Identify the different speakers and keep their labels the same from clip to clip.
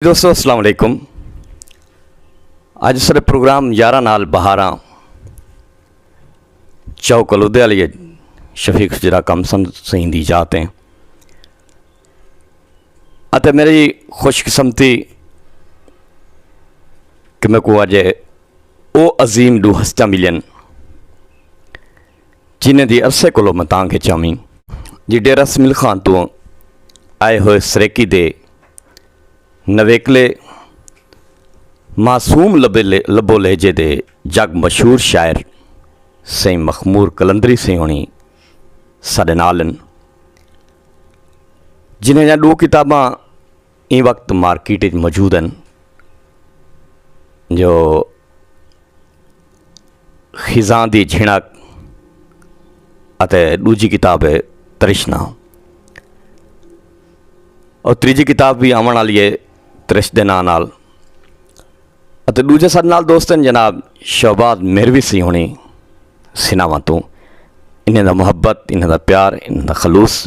Speaker 1: دوستو السلام علیکم اج سارے پروگرام یارہ نال بہاراں چاو کلودے علی شفیق جرا کم سن سین دی جاتے ہیں اتے میری خوش قسمتی کہ میں کو اجے او عظیم دو ہستہ ملین جنہیں دی عرصے کولو میں تانگھ اچ آویں جی ڈیرہ سمیل خان توں آئے ہوئے سریکی دے نویکلے معصوم لبو لہجے دے جگ مشہور شاعر سیں مخمور کلندری سیں ہونی ساڈے نالن جنہیں جہاں ڈو کتاباں ایں وقت مارکیٹ اچ موجود ہن جو خزاں دی جھنک اتے ݙوجھی کتاب ہے ترشنا اور تیجی کتاب بھی آمن والی ہے ترش دے نام نال اتے ݙوجھے سر نال دوستن جناب شہباز میروی سی ہونی سناواں تو انہیں دا محبت انہیں دا پیار انہیں دا خلوص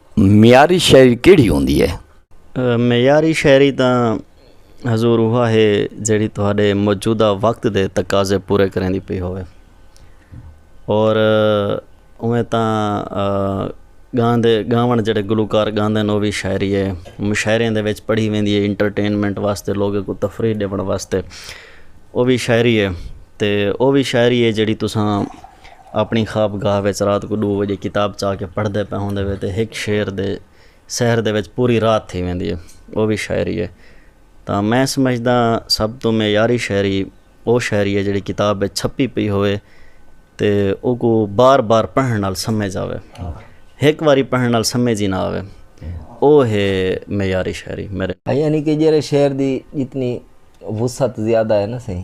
Speaker 1: معیاری شاعری کیڑھی ہوندی ہے؟ معیاری شاعری
Speaker 2: تاں حضور اوہا ہے جیڑھی تہاڈے موجودہ وقت دے تقاضے پورے کریندی پئی ہووے۔ اور اوویں تاں گاندے گاون جیڑھے گلوکار گاندے ہن او وی شاعری ہے۔ مشاعریاں دے وچ پڑھی ویندی ہے انٹرٹینمنٹ واسطے لوگاں کوں تفریح ݙیوݨ واسطے او وی شاعری ہے تے او وی شاعری ہے جیڑھی تساں اپݨی خواب گاہ وچ رات کوں ݙو وڄے کتاب چا کے پڑھدے پئے ہوندے وے تے ہک شعر دے سحر دے وچ پوری رات تھی ویندی ہے او وی شاعری ہے تاں میں سمجھداں سب توں معیاری شاعری او شاعری ہے جیڑھی کتاب وچ چھپی پئی ہووے تے او کوں بار بار پڑھݨ نال سمجھ آوے ہک واری پڑھݨ نال سمجھ ہی نہ آوے او ہے معیاری شاعری میݙے یعنی کہ جیڑھے شعر
Speaker 3: دی جتنی وسعت زیادہ ہے نا سئیں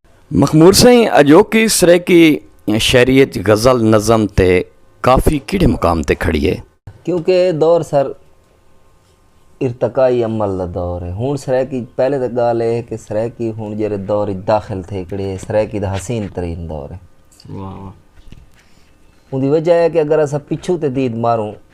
Speaker 2: مخمور سئیں
Speaker 1: اجوکی سرائیکی شعری اچ غزل نظم تے کافی کیڑھے مقام تے کھڑی ہے؟ کیونکہ اے دور
Speaker 3: سر ارتقائی عمل دا دور ہے ہن سرائیکی پہلے تاں گالھ اے ہے کہ سرائیکی ہن جیرھے دور اچ داخل تھے کھڑی ہے اے سرائیکی دا حسین ترین دور ہے اوندی وجہ اے ہے کہ اگر اساں پچھوں تے دید ماروں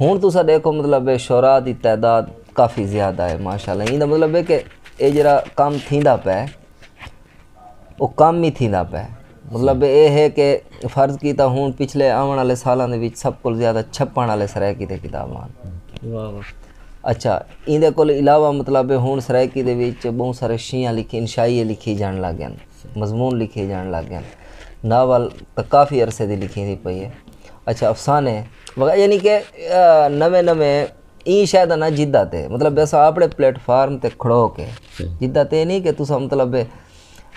Speaker 3: ہن تساں ڈیکھو مطلب ہے شعراء دی تعداد کافی زیادہ ہے ماشاءاللہ ایندا مطلب ہے کہ اے جیڑا کم تھیندا پئے او کم ہی تھیندا پئے مطلب اے ہے کہ فرض کیتا ہن پچھلے آون والے سالاں دے وچ سب کول زیادہ چھپن والے سرائیکی تے کتاباں ہن
Speaker 2: اچھا
Speaker 3: ایندے کول علاوہ مطلب ہن سرائیکی دے وچ بہوں سارے شیعہ لکھی انشائیے لکھی جان لگ گئے مضمون لکھے جان لگ گئے ناول کافی عرصے دی لکھی دی پئی ہے اچھا افسانے یعنی کہ نویں نویں ایں شے دا نہ جدہ تے مطلب اساں اپنے پلیٹ فارم تے کھڑو کے جدہ تے نہیں کہ تساں مطلب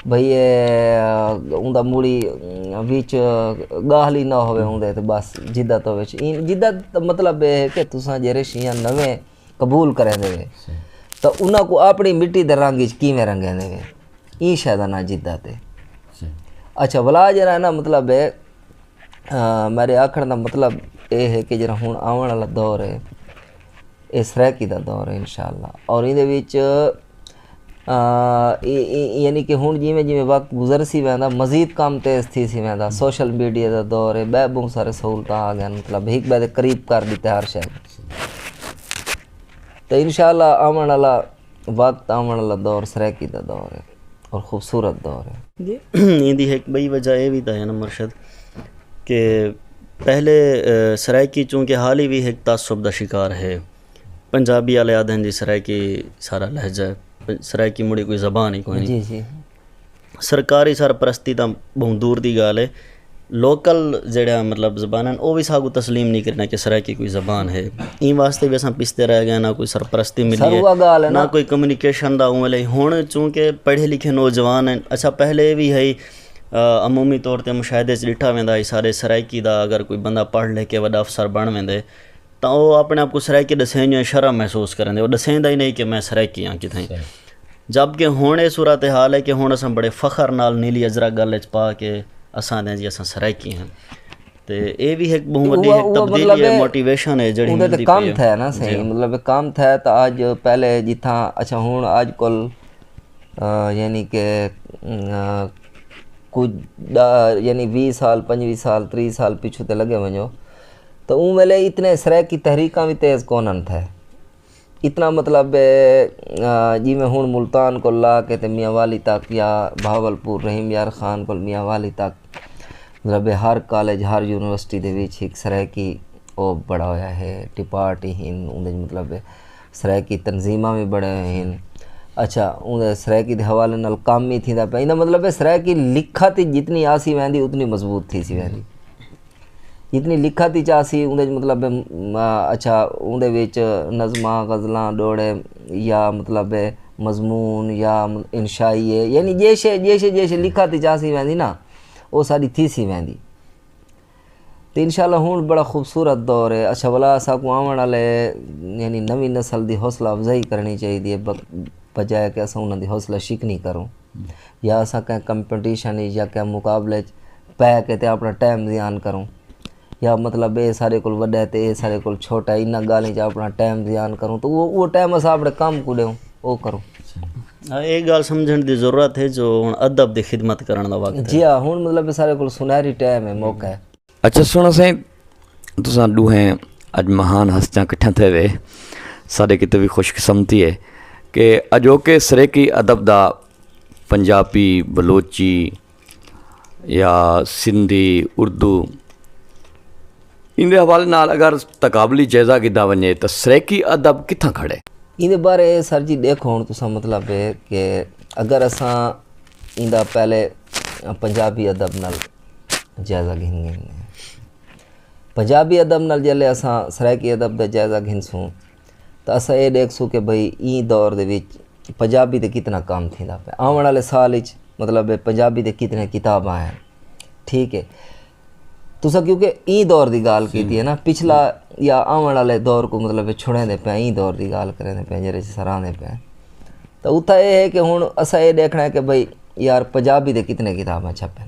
Speaker 3: بھئی اون دا موڑی وچ گاہلی نہ ہوے اون دے تے بس جدہ تو وچ ایں جدہ مطلب اے ہے کہ تساں جیرے شیاں نویں قبول کریندے وے تاں انہاں کوں اپݨی مٹی دے رنگ وچ کیویں رنگیندے وے ایں شے دا ناں جدت ہے اچھا ولا جیرھا ہے نا مطلب ہے میرے آکھݨ دا مطلب اے ہے کہ جیرھا ہݨ آوݨ والا دور ہے اے سرائیکی دا دور ہے انشاءاللہ اور ایندے وچ یعنی کہ ہݨ جیویں جیویں وقت گزر سی ویندا مزید کم تیز تھی سی ویندا سوشل میڈیا دا دور ہے ٻئے ٻہوں سارے سہولتاں آ ڳئن مطلب ہک ٻئے دے قریب کر ݙتے ہر شے تو انشاءاللہ آوݨ آلا وقت آوݨ آلا دور سرائیکی دا دور ہے اور خوبصورت دور ہے۔ ایندی ہک
Speaker 2: ٻئی وجہ اے وی تاں ہے نا مرشد کہ پہلے سرائیکی چونکہ حالی وی ہک تعصب دا شکار ہے پنجابی آلے آکھدن جی سرائیکی سارا لہجہ ہے سرائیکی مڑی کوئی زبان ای کونی
Speaker 3: سرکاری
Speaker 2: سرپرستی تاں بہوں دور دی ڳالھ ہے لوکل جیڑھا مطلب زباناں او وی ساکوں تسلیم نہیں کریندے کہ سرائیکی کوئی زبان ہے ایں واسطے وی اساں پچھتے رہ گئے نہ کوئی سرپرستی ملی ہے نہ کوئی کمیونیکیشن دا عمل ہے ہن چونکہ پڑھے لکھے نوجوان ہیں اچھا پہلے وی ہئی عمومی طور تے مشاہدے ڈٹھا ویندا ہی سارے سرائیکی دا اگر کوئی بندہ پڑھ لکھ کے وݙا افسر بݨ ویندے تاں او اپݨے آپ کوں سرائیکی ݙسیندے ہوئے شرم محسوس کریندے۔ او ݙسیندا ہی نئیں کہ میں سرائیکی ہاں کتھائیں۔ جب کہ ہݨ اے صورتحال اے کہ ہݨ اساں بڑے فخر نال نیلی اجرک ڳل اچ پا کے اساں آہدے ہاں جی اساں سرائیکی ہاں۔ تے اے وی ہک ٻہوں وݙی ہک تبدیلی اے موٹیویشن اے جیڑھی ملدی پئی اے۔ کم تھئے نا سئیں
Speaker 3: مطلب کم تھئے تاں آج پہلے جتھاں اچھا ہݨ آج کل یعنی کہ کجھ یعنی ویہہ سال پنجویہہ سال تریہہ سال پچھوں تے لڳے ونڄو تے اوں ویلے اتنے سرائیکی تحریکاں وی تیز کونن تھے اتنا مطلب جی میں ہوں ملتان کو لا کے تے میاں والی تک یا بھاول پور رحیم یار خان کو میاں والی تک مطلب ہر کالج ہر یونیورسٹی دے وچ ایک سرائیکی او بڑا ہویا ہے ڈپارٹ ہی ہن اوں دے مطلب سرائیکی تنظیماں وی بڑے ہوئے ہن اچھا اوں دے سرائیکی دے حوالے نال کام ہی تھیندا پیا ایندا مطلب ہے سرائیکی لکھت جتنی آسی ویندی اتنی مضبوط تھی سی ویندی جتنی لکھت اچ آسی اوندے اچ مطلب اچھا اوندے وچ نظماں غزلاں ڈوڑے یا مطلب مضمون یا انشائی ہے یعنی جے شے جے شے جے شے لکھت اچ آسی ویندی نا او ساڈی تھیسی ویندی تے انشاء اللہ ہن بڑا خوبصورت دور ہے اچھا ولا اساکوں آوݨ آلے یعنی نوی نسل دی حوصلہ افزائی کرݨی چاہیدی ہے بجائے کہ اساں انہاں دی حوصلہ شکنی کروں یا اساں کہیں کمپٹیشن اچ یا کہیں مقابلے اچ پے کے تے اپݨا ٹائم زیان کروں یا مطلب اے سارے کول وݙا ہے تے اے سارے کول چھوٹا ہے انہاں ڳالھیں چ اپݨا ٹائم زیان کروں تو او او ٹائم اساں اپݨے کم کوں ݙیوں او کروں اے
Speaker 2: ڳالھ سمجھݨ دی ضرورت ہے جو ہݨ ادب دی خدمت کرݨ دا وقت ہے جی ہا ہݨ مطلب سارے
Speaker 3: کول سنہری ٹائم ہے موقع ہے اچھا سݨاں سائیں
Speaker 1: تساں ݙوہیں اڄ مہان ہستیاں کٹھیاں تھئے وے ساݙے کیتے وی خوش قسمتی ہے کہ اڄوکے سریکی ادب دا پنجابی بلوچی یا سندھی اردو ایندے حوالے نال اگر تقابلی جائزہ گھدا ونجے تاں سرائیکی ادب کتھاں کھڑے؟ ایندے بارے
Speaker 3: سر جی ڈیکھو ہن تساں مطلب ہے کہ اگر اساں ایندا پہلے پنجابی ادب نال جائزہ گھن گھن پنجابی ادب نال جلے اساں سرائیکی ادب دا جائزہ گھنسوں تاں اساں اے ݙیکھسوں کہ بھئی ایں دور دے وچ پنجابی تے کتنا کم تھیندا پئے آوݨ آلے سال اچ مطلب پنجابی تے کتنے کتاباں آئن ٹھیک ہے تساں کیونکہ ایں دور دی ڳالھ کیتی ہے نا پچھلا یا آوݨ آلے دور کو مطلب چھڑیں دے پئے ایں دور دی ڳالھ کریں دے پئے جیرے سراں دے پئے تاں اتھا اے ہے کہ ہن اساں اے ݙیکھݨا ہے کہ بھئی یار پنجابی تے کتنے کتاباں چھپن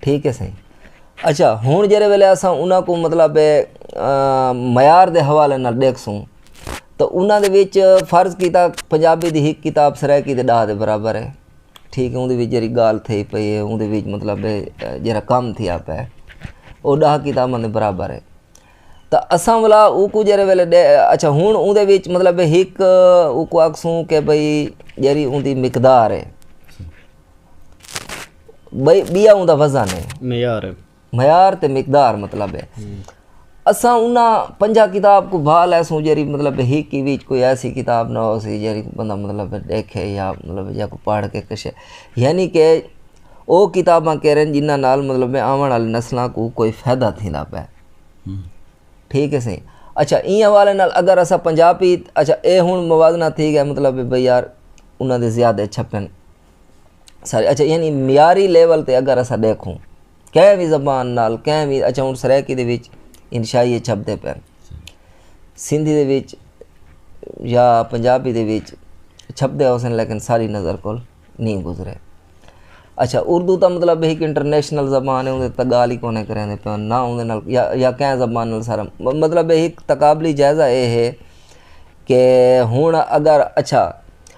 Speaker 3: ٹھیک ہے سائیں اچھا ہوں جہڑے ویلے اساں انہاں کو مطلب معیار دے حوالے نال ݙیکھسوں تو انہاں دے وچ فرض کیتا پنجابی دی ہک کتاب سرائیکی دے ݙاہ دے برابر ہے ٹھیک ہے اوندے وچ جیڑھی ڳالھ تھئی پئی ہے اوندے وچ مطلب جیڑھا کم تھیا پیا ہے او ݙاہ کتاباں دے برابر ہے تو اساں ولا اوکوں جہڑے ویلے ݙے اچھا ہوں اوندے وچ مطلب ہک اوکوں آکھسوں کہ بھئی جیڑھی اوندی مقدار ہے بیا اوندا وزن ہے معیار ہے معیار تے مقدار مطلب ہے اساں انہاں پنجا کتاب کو بھا لے سوں جیری مطلب ہی کی وچ کوئی ایسی کتاب نہ ہو سی جیری بندہ مطلب دیکھے یا مطلب یا کو پڑھ کے کشے یعنی کہ او کتاباں کہہ رہے ہیں جنہ نال مطلب میں آون والے نسلاں کو کوئی فائدہ تھی نہ پے ٹھیک ہے سی اچھا این حوالے نال اگر اسا پنجابی اچھا اے ہن موازنہ تھی گیا مطلب بھئی یار انہاں دے زیادہ چھپن سارے اچھا یعنی معیاری لیول تے اگر اسا دیکھوں کہیں بھی زبان نال کہیں بھی اچھا ہوں سرائیکی دے وچ انشائیے چھپتے پہ سندھی دے وچ یا پنجابی دے وچ چھپتے ہو سن لیکن ساری نظر کول نہیں گزرے اچھا اردو تا مطلب ایک انٹرنیشنل زبان ہے اندھے تا گال ہی کونے کریں دے پہ نہ اندھے نال یا کہیں زبان نال سارا مطلب ایک تقابلی جائزہ اے ہے کہ ہون اگر اچھا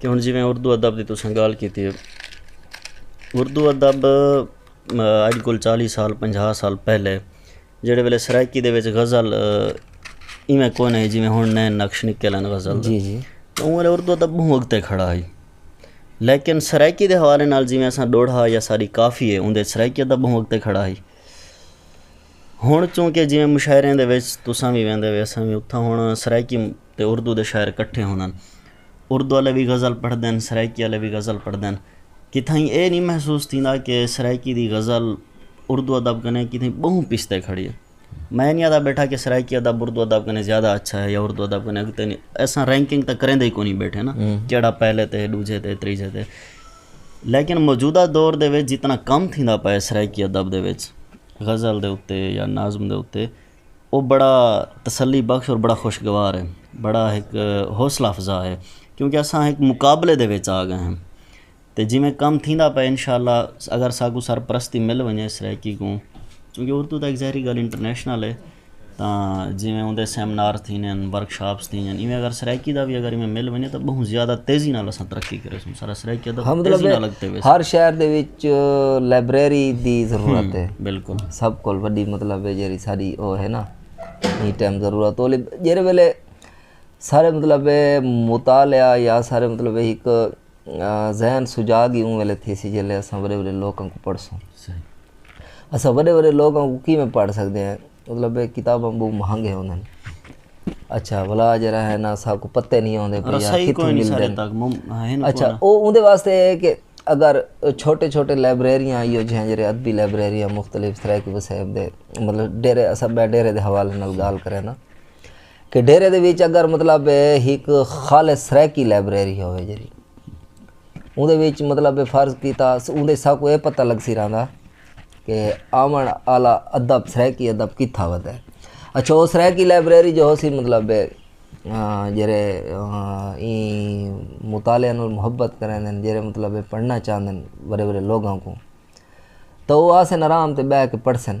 Speaker 2: کہ ہن جیویں اردو ادب دی تساں گالھ کیتی ہے اردو ادب اج کل چالی سال پنجاہ سال پہلے جیڑے ویلے سرائیکی دے وچ غزل ایویں کوئی نہ ہی جیویں ہن نئے نقش نکل آن غزل دے اوں
Speaker 3: ویلے اردو ادب
Speaker 2: بہوں اگتے کھڑا ہی لیکن سرائیکی دے حوالے نال جیویں اساں ڈوڑھا یا ساڈی کافی ہے اوں دے سرائیکی ادب بہوں اگتے کھڑا ہی ہݨ چونکہ جیویں مشاعریں دے وچ تساں وی ویندے وے اساں وی اتھاں ہݨ سرائیکی تے اردو دے شاعر کٹھے ہوندن اردو آلے وی غزل پڑھدن سرائیکی آلے وی غزل پڑھدن کتھائیں اے نی محسوس تھیندا کہ سرائیکی دی غزل اردو ادب کنے کتھائیں ٻہوں پچھتے کھڑی ہے میں نی آہدا ٻیٹھا کہ سرائیکی ادب اردو ادب کنے زیادہ اچھا ہے یا اردو ادب کنے اڳتے نی اساں رینکنگ تاں کریندے ای کونی ٻیٹھے نا کیہڑا پہلے تے ݙوجھے تے تریجھے تے لیکن موجودہ دور دے وچ جتنا کم تھیندا پئے سرائیکی ادب دے وچ غزل دے اتے یا نظم دے اتے او بڑا تسلی بخش اور بڑا خوشگوار ہے بڑا ہک حوصلہ افزا ہے کیونکہ اساں ہک مقابلے دے وچ آ گئے ہیں تے جیویں کم تھیندا پئے ان شاء اللہ اگر ساکوں سرپرستی مل ونجے سرائیکی کوں کیونکہ اردو تاں ہک ظاہری گالھ انٹرنیشنل ہے تاں جیویں اوندے سیمنار تھیندے ہن، ورکشاپس تھیندیاں ہن، ایویں اگر سرائیکی دا وی اگر ایویں مل ونڄے تاں ٻہوں زیادہ تیزی نال اساں ترقی کریسوں، سارا سرائیکی ادب تیزی نال اڳتے ویسی۔ ہر شہر دے وچ
Speaker 3: لائبریری دی ضرورت ہے۔ بالکل۔ سب کول
Speaker 2: وݙی
Speaker 3: مطلب ہے جیڑھی ساݙی او ہے نا ایں ٹائم ضرورت او جیڑھے ویلے سارے مطلب مطالعہ یا سارے مطلب ہک ذہن سجاگ ہی اوں ویلے تھیسی جیلے اساں وڈے وڈے لوکاں کو پڑھسوں اساں وڈے وڈے لوکاں کو کیویں پڑھ سکدے ہیں مطلب اے کتاباں بہوں مہنگے ہوندن اچھا بلا جرا ہے نا سا کو پتے نہیں ہوندے پے یا کتھوں ملدن اچھا او اون دے واسطے اے کہ اگر چھوٹے چھوٹے لائبریریاں ایو جیاں جڑے ادبی لائبریریاں مختلف طرح کی وسائب دے مطلب ڈیرے اساں بے ڈیرے دے حوالے نال گال کرے نا کہ ڈیرے دے وچ اگر مطلب ہک خالص سرائیکی لائبریری ہوے جڑی اون دے وچ مطلب فرض کیتا اون دے ساکو اے پتہ لگ سی رہندا کہ آون آلا ادب سرائیکی ادب کتھا ود ہے اچھا او سرائیکی لائبریری جو ہو سی مطلب جڑے این مطالعہ نال محبت کریندن جڑے مطلب پڑھنا چاہندن بڑے بڑے لوگاں کو تو او آسن آرام تے بہ کے پڑھسن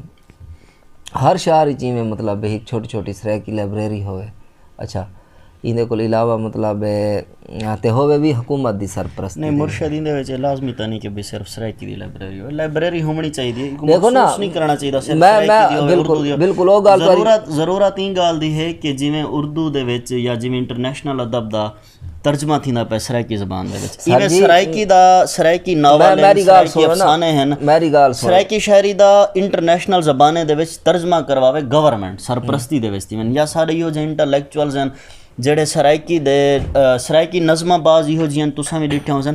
Speaker 3: ہر شہر اچ ایویں مطلب ہک چھوٹی چھوٹی سرائیکی لائبریری ہوے اچھا ایندے کول علاوہ مطلب تے ہوے وی حکومت دی سرپرستی نہیں مرشد ایندے وچ
Speaker 2: لازمی تا نہیں کہ بھی صرف سرائیکی دی لائبریری ہوے لائبریری ہومنی چاہیدی ہے دیکھو نا نہیں کرنا چاہیدا
Speaker 3: صرف میں
Speaker 2: میں بالکل بالکل او گل ضرورت
Speaker 3: ضرورت این گل
Speaker 2: دی ہے کہ جویں اردو دے وچ یا جویں انٹرنیشنل ادب دا ترجمہ تھیندا پئے سرائیکی زبان دے وچ ایویں سرائیکی دا سرائیکی ناول میری گال افسانے ہیں میری گال سرائیکی
Speaker 3: شاعری دا
Speaker 2: انٹرنیشنل زبانیں دے وچ ترجمہ کرواوے گورنمنٹ سرپرستی دے وچ تھیون یا سارے ایہو جے انٹلیکچوئلز ہیں جڑے سرائیکی دے سرائیکی نظماں بعض ایہو جیاں تساں وی ڈٹھیاں ہوسن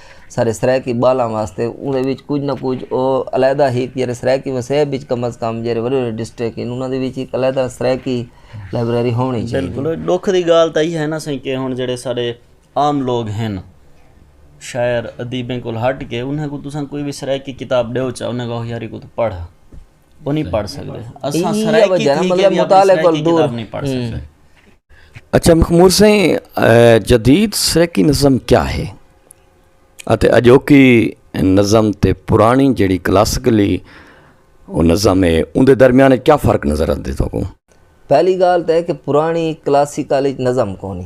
Speaker 3: سارے سرائیکی ٻالاں واسطے اوندے وچ کجھ نہ کجھ او علیحدہ ہی جیرے سرائیکی وسیب وچ کم از کم جیرے وڈے وڈے ڈسٹرک ہن انہاں دے وچ ہک علیحدہ سرائیکی لائبریری ہونڑیں چاہیدی۔ بالکل ݙکھ دی ڳالھ
Speaker 2: تاں ایہا ہے نا سئیں کہ ہݨ جیڑھے ساݙے عام لوک ہن شاعر ادیبیں کولھ ہٹ کے انہاں کوں تساں کوئی وی سرائیکی کتاب ݙیؤ چا انہاں کہو یار ایکوں توں پڑھ۔ اچھا
Speaker 1: مخمور سائیں جدید سرائیکی نظم کیا ہے اتے اجوکی نظم تے پرانی جڑی کلاسیکلی وہ نظم ہے ان دے درمیان کیا فرق نظر آتے تو کو پہلی گال
Speaker 3: تے کہ پرانی کلاسیکلی نظم کونی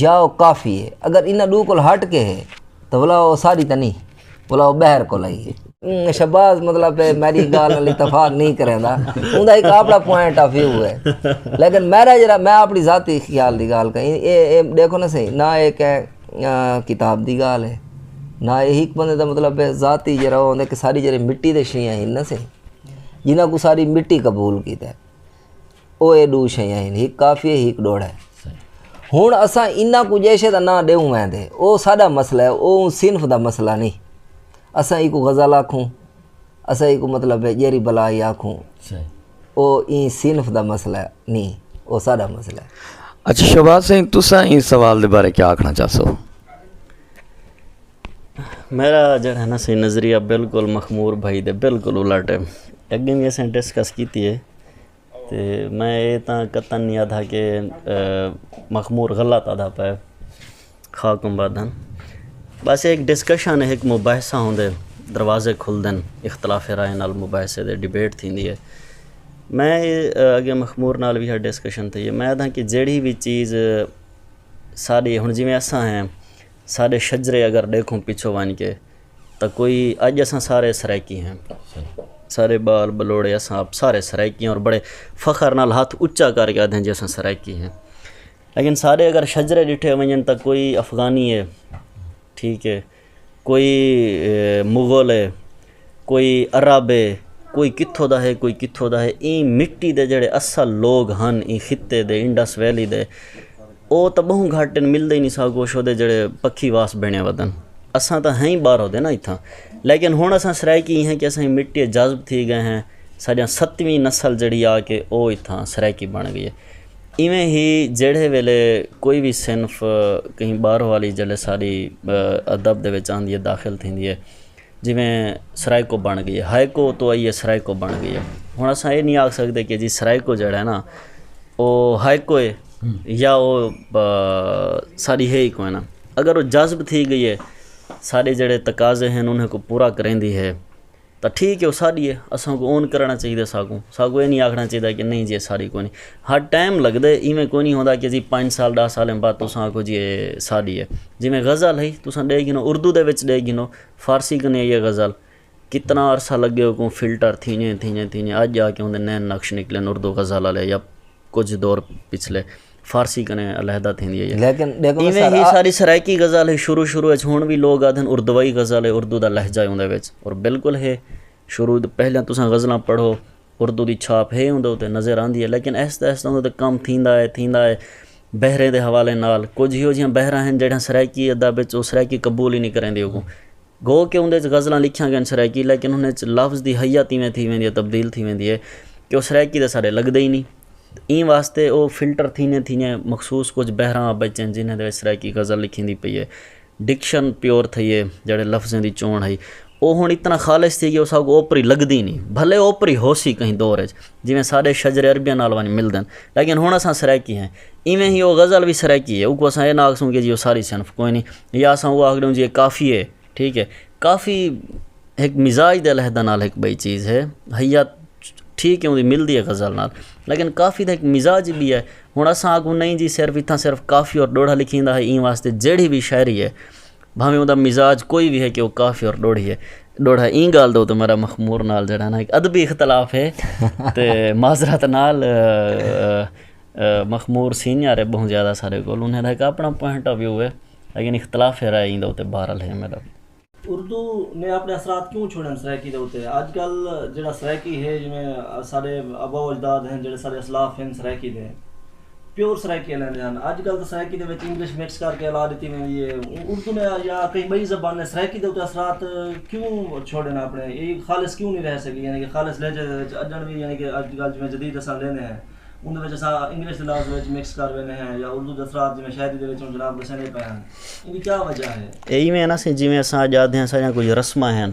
Speaker 3: یا او کافی ہے اگر انہاں ڈو کول ہٹ کے ہے تو بلا او ساری تے نہیں بلا او بہر کول آئی ہے شباز مطلب ہے میری گال نال اتفاق نہیں کریندا اوندا ایک اپنا پوائنٹ آف ویو ہے لیکن میرا جڑا میں اپنی ذاتی خیال دی گال کہیں اے اے دیکھو نا صحیح نہ اے کہ کتاب دی گال ہے نہ اے ایک بندے دا مطلب ہے ذاتی جڑا ہوندا کہ ساری جڑی مٹی دے شیاں ہیں نا صحیح جنہاں کو ساری مٹی قبول کیتا ہے او اے ڈو شیاں ہن ہک کافی ہے ہک ڈوڑا ہے ہن اساں انہاں کو جیشے دا نہ ڈیوں وین دے او ساڈا مسئلہ ہے او صنف دا مسئلہ نہیں اساں ایکو غزل آکھوں اساں ایکو مطلب ہے جیری بلا ہی آکھوں او این صنف دا مسئلہ نہیں او ساڈا مسئلہ ہے اچھا شہباز سنگھ
Speaker 1: تساں این سوال دے بارے کیا آکھنا چاہسو
Speaker 2: میرا جڑا ہے نا سی نظریہ بالکل مخمور بھائی دے بالکل الٹ ہے اگے بھی اسیں ڈسکس کیتی ہے تے میں اے تاں قطعا نی آدھا کہ مخمور غلط آدھا پئے خاک آباد ہن بس اے ہک ڈسکشن ہک مباحثہ ہوندے دروازے کھلدن اختلاف رائے نال مباحثے دے ڈبیٹ تھیندی اے میں اگے مخمور نال وی ہا ڈسکشن تھئی اے میں آدھاں کہ جیڑھی وی چیز ساڈی ہن جیویں اساں ہیں ساڈے شجرے اگر ڈیکھوں پچھوں ونج کے تاں کوئی اج اساں سارے سرائیکی ہیں سارے بال بلوڑے اساں آپ سارے سرائیکی ہیں اور بڑے فخر نال ہاتھ اچا کر کے آدھیں جی اساں سرائیکی ہیں لیکن سارے اگر شجرے ڈٹھے ونجن تاں کوئی افغانی ہے ٹھیک ہے کوئی مغل ہے کوئی عرب ہے کوئی کتھو دا ہے کوئی کتھو دا ہے ایں مٹی دے جڑے اصل لوگ ہن ایں خطے دے انڈس ویلی دے او تاں بہوں گھٹ ہن ملدے ہی نی سا کچھ اودے جیڑھے پکھی واس بنڑے ودن اساں تاں ہیں ہی باہروں دے نا اتھاں لیکن ہن اساں سرائیکی ہیں کہ اساں مٹی اچ جذب تھی گئے ہیں ساڈیاں ستویں نسل جیڑھی آ کے او اتھاں سرائیکی بن گئی ہے ایویں ہی جیڑھے ویلے کوئی وی صنف کہیں باہروں والی جلے ساڈی ادب دے وچ آندی ہے داخل تھیندی ہے جیویں سرائیکو بن گئی ہے ہائیکو اتوں آئی ہے سرائیکو بن گئی ہے ہن اساں اے نی آکھ سکدے کہ جی سرائیکو جیڑا ہے نا او ہائیکو ہے یا او ساڈی ہے ای کوئی نہ اگر او جذب تھی گئی ہے ساڈے جیڑے تقاضے ہن انھاں کوں پورا کریندی ہے تاں ٹھیک ہے او ساڈی ہے اساں کوں اون کرݨا چاہیدا ساکوں ساکوں اے نی آکھݨا چاہیدا کہ نی جی اے ساڈی کونی ہا ٹائم لگدے ایویں کوئی نی ہوندا کہ اسی پنج سال ݙاہ سالاں بعد تساں آکھو جی اے ساݙی اے جیویں غزل ہئی تساں ݙے گھنو اردو دے وچ ݙے گھنو فارسی کنیں آئی اے غزل کتنا عرصہ لڳے اوکوں فلٹر تھیندے تھیندے تھیندے اڄ جا کے اوندے نین نقش نکلن اردو غزل آلے یا کجھ دور پچھلے فارسی کنیں علیحدہ تھیندی ہئی ایویں ہی
Speaker 3: ساݙی سرائیکی
Speaker 2: غزل ہئی شروع شروع اچ ہݨ وی لوک آکھدن اردوائی غزل اے اردو دا لہجہ اے اوندے وچ اور بالکل ہے شروع توں پہلے تساں غزلاں پڑھو اردو دی چھاپ ہے اندر اتنے نظر آندی ہے لیکن آہستہ آہستہ اندر کم تھیندا ہے تھیندا ہے بحریں دے حوالے نال کچھ ہی ہو جیاں بحراں ہیں جڑاں سرائیکی ادا بچ وہ سرائیکی قبول ہی نہیں کریں دے اگوں گو کہ اندر غزلاں لکھیاں گئن سرائیکی لیکن انہیں لفظ دی حیا تیویں تھی ویندی ہے تبدیل تھی ویندی ہے کہ وہ سرائیکی دے سارے لگدے ہی نہیں ایں واسطے وہ فلٹر تھینے تھینے مخصوص کچھ بحراں بچن جنہیں دے سرائیکی غزل لکھیں دی پئی ہے ڈکشن پیور تھئی ہے جیڑھے لفظیں دی چونڑ ہئی او ہن اتنا خالص تھی گئی اساکوں اوپری لگدی نی بھلے اوپری ہوسی کہیں دور اچ جیویں ساڈے شجر عربیہ نال ونج ملدن لیکن ہن اساں سرائیکی ہیں ایویں ہی او غزل وی سرائیکی ہے اوکوں اساں اے نہ آکھسوں کہ جی او ساری صنف کوئی نی یا اساں او آکھنوں جی اے کافی ہے ٹھیک ہے کافی ہک مزاج دے لحدہ نال ہک بئی چیز ہے ہئی یا ٹھیک ہے او ملدی ہے غزل نال لیکن کافی دا ہک مزاج بھی ہے ہݨ اساں آگوں نئیں جی صرف اتھاں صرف کافی اور ݙوہڑا لکھیندا ہے ایں واسطے جیڑھی وی شاعری ہے بھانویں اوندا مزاج کوئی وی ہے کہ او کافی اور ݙوہڑی ہے ݙوہڑا ہے ایں ڳالھ دے اتے میݙا مخمور نال جیڑھا نا ہک ادبی اختلاف ہے تے معذرت نال مخمور سینئر ہے ٻہوں زیادہ ساݙے کولوں انہیں دا ہک آپݨا پوائنٹ آف ویو ہے لیکن اختلاف رائے ایں دے اتے بہرحال ہے میݙا۔ اردو
Speaker 4: نے اپنے اثرات کیوں چھوڑے ہن سرائیکی دے اتے اج کل جیڑا سرائیکی ہے جیویں اساڈے ابا و اجداد ہن جیڑے اساڈے اسلاف ہن سرائیکی دے پیور سرائیکی الیندے ہن اج کل تاں سرائیکی دے وچ انگلش مکس کر کے الا ڈتی ویندی ہے اردو نے یا کہیں بئی زبان نے سرائیکی دے اتے اثرات کیوں چھوڑے ہن اپنے ای خالص کیوں نی رہ سکی یعنی کہ خالص لہجے دے وچ اجنڑ وی یعنی کہ اج کل جیویں جدید اساں لیندے ہیں اوندے وچ اساں انگلش دے لفظ وچ مکس کر ویندے ہیں یا اردو دے اثرات جیویں شاعری دے وچ ہن جناب دسیندے پئے ہن اے ایویں ہے نا سئیں جیویں
Speaker 2: اساں اڄ آکھدے آں ساݙیاں کجھ رسماں ہن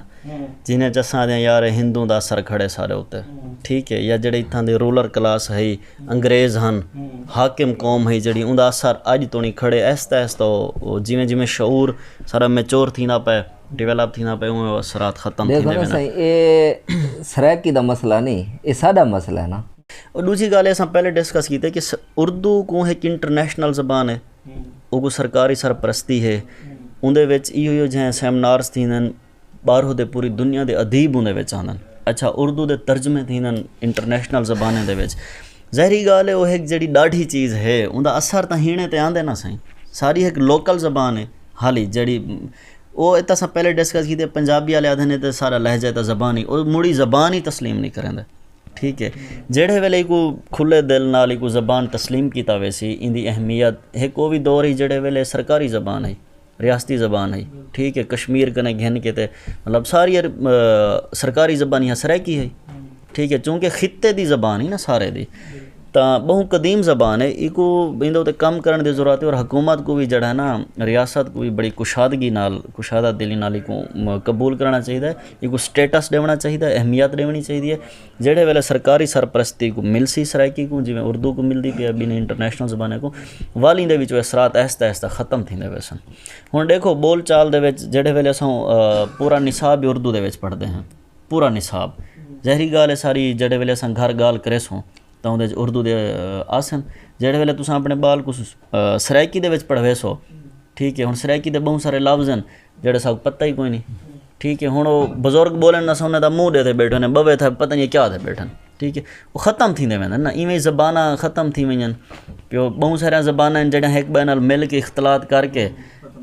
Speaker 2: جنہاں ءچ اساں آکھدے آں یار اے ہندوؤں دا اثر کھڑے ساݙے اتے ٹھیک ہے یا جیڑھے اتھاں دے رولر کلاس ہئی انگریز ہن حاکم قوم ہئی جیڑھی اوندا اثر اڄ تݨی کھڑے آہستہ آہستہ او جیویں جیویں شعور سارا میچور تھیندا پئے ڈویلپ تھیندا پئے اونویں او اثرات ختم تھیندے ویندن۔ ݙیکھو نا سئیں اے
Speaker 3: سرائیکی دا مسئلہ نی اے ساݙا مسئلہ ہے نا۔ ݙوجھی ڳالھ ہے اساں
Speaker 2: پہلے ڈسکس کیتے کہ اردو کوں ہک انٹرنیشنل زبان ہے۔ اوکوں سرکاری سرپرستی ہے اوندے وچ ایہو ایہو جہے سیمنارز تھیندن ٻاہروں دے پوری دنیا دے ادیب اوندے وچ آندن اچھا اردو دے ترجمے تھیندن انٹرنیشنل زبانیں دے وچ ظاہری ڳالھ ہے او ہک جیڑھی ݙاڈھی چیز ہے اوندا اثر تاں ہیݨے تے آندے نا سئیں ساری ہک لوکل زبان ہے ہالی جیڑھی او اتھاں اساں پہلے ڈسکس کیتے پنجابی آلے آکھدن اے تاں سارا لہجہ اے تاں زبان ہی او مڑی زبان ہی تسلیم نی کریندے ٹھیک ہے جیڑھے ویلے ایکوں کھلے دل نال ایکوں زبان تسلیم کیتا ویسی ایندی اہمیت ہک او وی دور ہی جیڑھے ویلے سرکاری زبان ہئی ریاستی زبان ہئی ٹھیک ہے کشمیر کنے گھن کے تے مطلب ساری سرکاری زبانی ہاں سرائیکی ہئی ٹھیک ہے چونکہ خطے دی زبان ہی نا سارے دی تاں ٻہوں قدیم زبان ہے ایکوں ایندے اتے کم کرن دی ضرورت ہے اور حکومت کوں وی جیڑھا ہے نا ریاست کوں وی بڑی کشادگی نال کشادہ دلی نال ایکوں قبول کرݨا چاہیدا ہے ایکوں سٹیٹس ݙیوݨا چاہیدا ہے اہمیت ݙیوݨی چاہیدی ہے جیڑھے ویلے سرکاری سرپرستی کوں ملسی سرائیکی کوں جیویں اردو کوں ملدی پئی ہے ٻنہہ انٹرنیشنل زباناں کوں والی دے وچ او اثرات آہستہ آہستہ ختم تھیندے ویسن ہݨ ݙیکھو ٻول چال دے وچ جیڑھے ویلے اساں پورا نصاب ہی اردو دے وچ پڑھدے ہیں پورا نصاب ظاہری ڳالھ ہے ساری جیڑھے ویلے اساں گھر ڳالھ کریسوں تاں اوندے وچ اردو دے آسن جیڑھے ویلے تساں آپݨے ٻال کوں سرائیکی دے وچ پڑھویسو ٹھیک ہے ہݨ سرائیکی دے ٻہوں سارے لفظ ہن جیڑھے ساکوں پتہ ہی کوئی نی ٹھیک ہے ہن او بزرگ بولن نا سامنے تاں منہ ڈے تے بیٹھے ہوندے ہن بوے تھا پتہ نی کیا تے بیٹھن ٹھیک ہے او ختم تھیندے ویندے ہن نا ایویں ای زباناں ختم تھی وینجن پیو بہوں ساریاں زباناں ہن جیڑھیاں ہک ٻئے نال مل کے اختلاط کر کے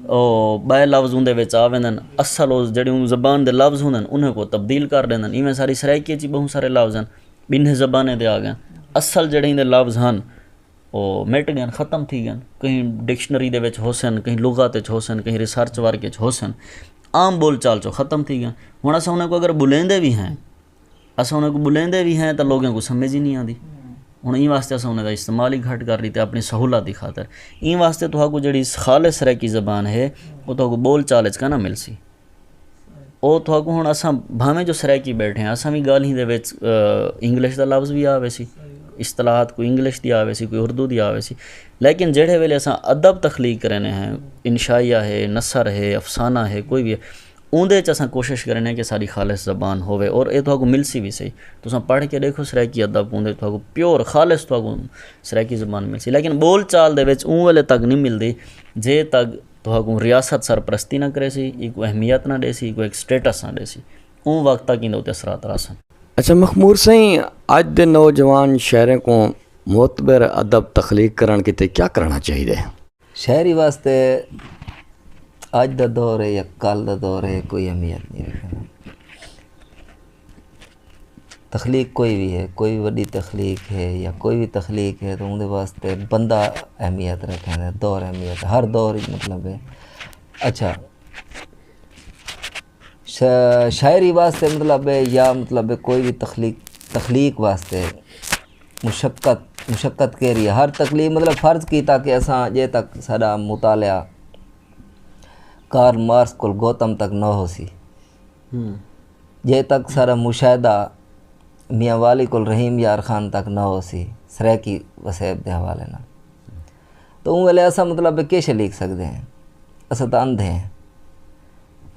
Speaker 2: او ٻئے لفظ اوندے وچ آ ویندے ہن اصل او جیڑھے اوں زبان دے لفظ ہوندے ہن انہیں کوں تبدیل کر ݙیندے ہن ایویں ساݙی سرائیکی اچ وی بہوں سارے لفظ ہن ٻنہیں زبانیں دے آ ڳئے ہن اصل جیڑھے ایندے لفظ ہن او مٹ گئن ختم تھی گئن کہیں ڈکشنری دے وچ ہوسن کہیں لغت وچ ہوسن کہیں ریسرچ ورک وچ ہوسن عام بول چال چوں ختم تھی گئن ہن اساں انہاں کوں اگر بلیندے وی ہیں اساں انہاں کوں بلیندے وی ہیں تاں لوگاں کوں سمجھ ہی نی آندی ہن ایں واسطے اساں انہاں دا استعمال ہی گھٹ کر ݙتے اپݨی سہولت دی خاطر ایں واسطے تہاکوں جیڑھی خالص سرائیکی زبان ہے او تہاکوں بول چال وچ کاں نہ ملسی او تھاکوں ہن اساں بھانویں جو سرائیکی بیٹھے آں اساں وی گالھیں دے وچ انگلش دا لفظ وی آوے سی اصطلاحات کوئی انگلش دی آوے سی کوئی اردو دی آوے سی لیکن جیڑھے ویلے اساں ادب تخلیق کرینے ہیں انشائیہ ہے نثر ہے افسانہ ہے کوئی وی ہے اوندے وچ اساں کوشش کرینے ہیں کہ ساڈی خالص زبان ہووے اور اے تھاکوں ملسی وی صحیح تساں پڑھ کے ڈیکھو سرائیکی ادب اوندے وچ تھاکوں پیور خالص تھاکوں سرائیکی زبان ملسی لیکن بول چال دے وچ اوں ویلے تک نی ملدی جے تک تہاکوں ریاست سرپرستی نہ کریسی، اینکوں اہمیت نہ ݙیسی، اینکوں ہک سٹیٹس نہ ݙیسی۔ اوں وقت تک ایندے اتے اثرات رہسن۔ اچھا مخمور
Speaker 1: سئیں، اڄ دے نوجوان شاعریں کوں معتبر ادب تخلیق کرݨ کیتے کیا کرݨا چاہیدے؟ شاعری
Speaker 3: واسطے اڄ دا دور ہے یا کل دا دور ہے کوئی اہمیت نئیں رکھیندا۔ تخلیق کوئی وی ہے کوئی وی وݙی تخلیق ہے یا کوئی وی تخلیق ہے تو اوندے واسطے بندہ اہمیت رکھیندے دور اہمیت ہر دور اچ مطلب ہے اچھا شاعری واسطے مطلب ہے یا مطلب کوئی وی تخلیق تخلیق واسطے مشقت مشقت کیری ہے ہر تخلیق مطلب فرض کیتا کہ اساں ڄے تک ساݙا مطالعہ کارل مارکس کول گوتم تک نہ ہوسی جے تک سارا مشاہدہ میاں والی کول رحیم یار خان تک نہ ہو سی سرائیکی وسیب دے حوالے نال تو اوں ویلے اساں مطلب کے شے لکھ سکدے ہیں اساں تاں اندھے ہیں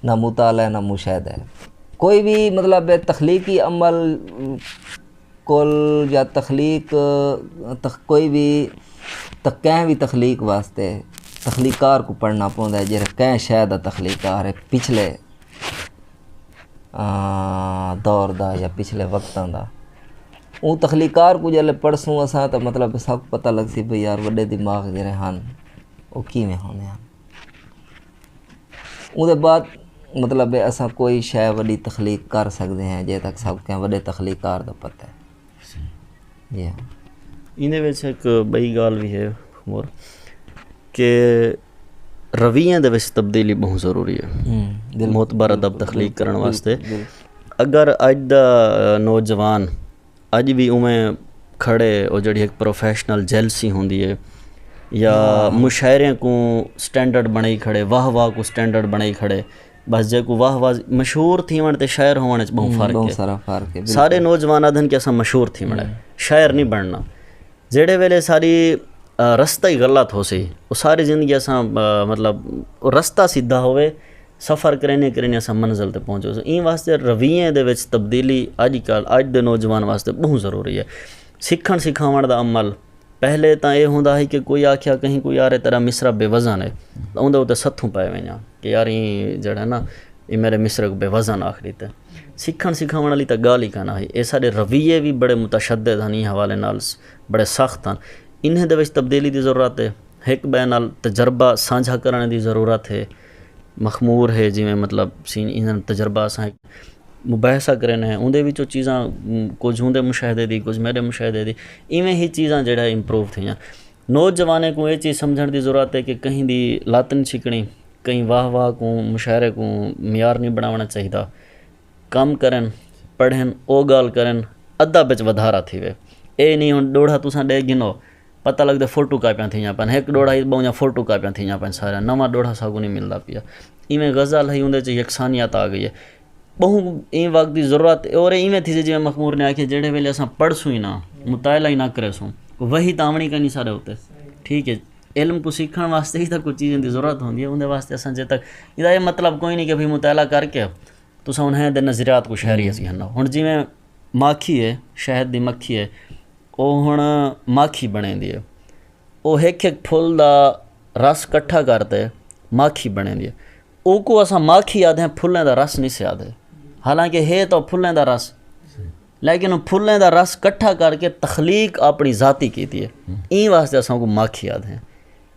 Speaker 3: نہ مطالعہ ہے نہ مشاہدہ ہے کوئی بھی مطلب تخلیقی عمل کول یا تخلیق کوئی بھی کہیں بھی تخلیق واسطے تخلیقار کو پڑھنا پوندا ہے جیڑھے کہیں شے دا تخلیقار ہے پچھلے دور دا یا پچھلے وقتاں دا اوں تخلیقکار کوں جیلے پڑھسوں اساں تاں مطلب سب پتہ لگسی بھئی یار وݙے دماغ جیڑھے ہن او کیویں ہوندے ہن۔ اوں دے بعد مطلب اساں کوئی شے وݙی تخلیق کر سڳدے ہیں جے تک ساکوں کہیں وݙے تخلیقکار دا پتہ ہے۔ ایندے وچ
Speaker 2: ہک ٻئی ڳالھ وی ہے عمر کہ رویاں دے وچ تبدیلی ٻہوں ضروری ہے معتبر ادب تخلیق کرݨ واسطے اگر اڄ دا نوجوان اڄ وی اوویں کھڑے او جیڑھی ہک پروفیشنل جیلسی ہوندی ہے یا مشاعرے کوں سٹینڈرڈ بݨائی کھڑے واہ واہ کوں سٹینڈرڈ بݨائی کھڑے بس جیکوں واہ واہ مشہور تھیوݨ تے شاعر ہووݨ اچ ٻہوں فرق ہے ٻہوں سارا فرق ہے سارے نوجوان آکھدن کہ اساں مشہور تھیوݨ ہے شاعر نی بݨݨا جیڑھے ویلے ساری رستہ ہی غلط ہوسی او ساری زندگی اساں مطلب او رستہ سدھا ہووے سفر کریندے کریندے اساں منزل تے پہنچ وسوں ایں واسطے رویے دے وچ تبدیلی اڄ کل اڄ دے نوجوان واسطے ٻہوں ضروری ہے سکھݨ سکھاوݨ دا عمل پہلے تاں اے ہوندا ہئی کہ کوئی آکھیا کہیں کوں یار اے تیڈا مصرعہ بے وزن اے تاں اوندے اتے ستھوں پے ونجاں کہ یار ایں جیڑھا نا ایں میڈے مصرعے کوں بے وزن آکھ ڈتے۔ سکھنڑ سکھاونڑ آلی تاں گالھ ای کائناں ہئی۔ اے ساڈے رویے وی بڑے متشدد ہن ایں حوالے نال بڑے سخت ہن۔ انہیں دے وچ تبدیلی دی ضرورت اے۔ ہک بئے نال تجربہ سانجھا کرنڑ دی ضرورت اے۔ مخمور ہے جیویں مطلب سین ایندے نال تجربہ اساں مباحثہ کرن ہیں اوندے وچ او چیزاں کچھ اوندے مشاہدے دی کچھ میݙے مشاہدے دی ایویں ہی چیزاں جیڑھا امپروو تھیاں نوجوانیں کوں اے چیز سمجھݨ دی ضرورت ہے کہ کہیں دی لت نی چھکݨی کہیں واہ واہ کوں مشاعرے کوں معیار نی بݨاوݨا چاہیدا کم کرن پڑھن او گال کرن ادب اچ ودھارا تھیوے اے نی ہن ڈوڑھا تساں ڈے گھنو پتہ لگدے فوٹو کاپیاں تھیاں پن ہک ڈوڑھا ہی بئوں فوٹو کاپیاں تھیاں پن ساریاں نواں ڈوڑھا ساکوں نی ملدا پیا ایویں غزل ہئی اوندے اچ یکسانیت آ گئی اے بہوں ایں وقت دی ضرورت اے اور ایویں تھیسی جیویں مخمور نے آکھیا جیڑھے ویلے اساں پڑھسوں ای نا مطالعہ ای نا کریسوں وحی تاں آونڑی کائنی ساڈے اتے ٹھیک اے۔ علم کوں سیکھݨ واسطے ہی کجھ چیزاں دی ضرورت ہوندی ہے اوندے واسطے اساں جدوں تک ایدا اے مطلب کوئی نی کہ بھئی مطالعہ کر کے تساں انہیں دے نظریات کوں شہری اچ گھنو ہن جیویں ماکھی ہے شہد دی مکھی ہے او ہݨ ماکھی بݨیندی ہے او ہک ہک پھل دا رس کٹھا کر تے ماکھی بݨیندی ہے اوکوں اساں ماکھی آکھدے آں پھلاں دا رس نی سے آکھدے حالانکہ ہے تاں پھلاں دا رس لیکن او پھلیں دا رس کٹھا کر کے تخلیق اپݨی ذاتی کیتی ہے۔ ایں واسطے اساں اوکوں ماکھی آدھیاں۔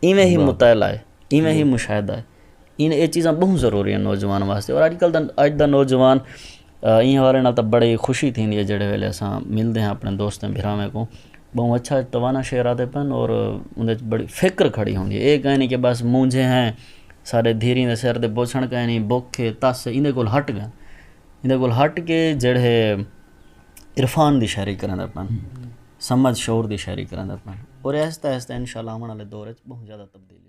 Speaker 2: ایویں ہی مطالعہ ہے۔ ایویں ہی مشاہدہ ہے۔ ایں اے چیزاں ٻہوں ضروری ہن نوجوان واسطے۔ اور اڄ کل دا اڄ دا نوجوان ایں حوالے نال تاں بڑی خوشی تھیندی ہے جیڑھے ویلے اساں ملدے ہاں اپݨے دوستاں بھرامیں کوں۔ ٻہوں اچھا توانا شعر آتے پن اور اوندے اچ بڑی فکر کھڑی ہوندی ہے۔ اے کائیں نی کہ بس مونجھے ہیں سارے دھیریں دے سر تے بوسݨ کائیں نی بکھ ہے تس ہے ایندے کول ہٹ ڳئے۔ ایندے کول ہٹ کے جیڑھے عرفان دی شاعری کریندا پن سمجھ شعور دی شاعری کریندا پن اور آہستہ آہستہ انشاء اللہ آوݨ آلے دور اچ بہوں زیادہ تبدیلی